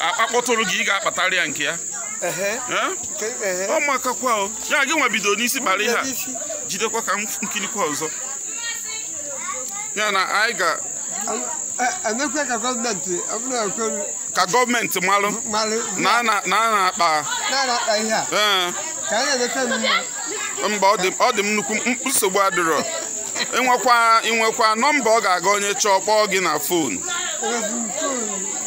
a kpa- kpọtụrụ gị ị ga-akpatara ya nke ya Ehe. Eh? Nke ehe. ọ makakwa o ya gị nwa bido n'isi kpara ihe a N'isi. jidekwa ka m nkirikwa ọzọ ya na anyị ga A- a na-ekwe ka gọọmenti ọ bụrụ na e kwe ka gọọmenti malụ mmalụ na a na- na a na-akpa na-akpa ihe a ee ka anyị na-emeta mma mba ọ dị ọ dị m nnukwu m- nsogbu adịrọ i nwekwa i nwekwa nọmba ọ ga-aga onye chọọ kpọọ gị na fon Enweghị m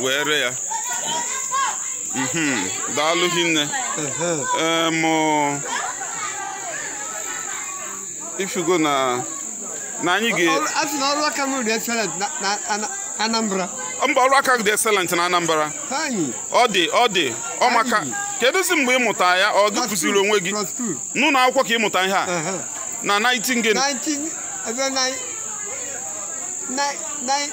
wee ree ya Mhm, daalụ hinne Em, ọ, ị fụgo na na anyị ga Ọrụ- a sị na ọrụ aka m dị excellent na- na Ana- Anambra mba ọrụ aka dị excellent na Anambra anyị ọ dị ọ dị ọ maka Anyị. kedụzi mgbe ị mụta ya ọ gị kụziri onwe gị ka ọ bụ n'ụlọ akwụkwọ ka ị mụta ihe a Aha. na 19 gịnị 19 ebe nine- nine- nine-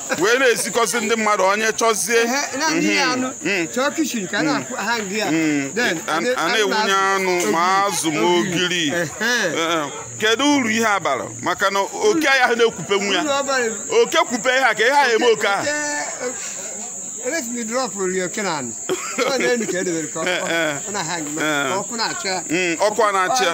wee na-esikọzi ndị mmadụ onye chọzie a na-ewunye anụ ma azụ ma ogiri kedu uru ihe a bara maka na oke ya ha na-ekwupe nwa ya oke kwupe ihe a ka ihe a eme oke ahụ ọkụ na-achị ya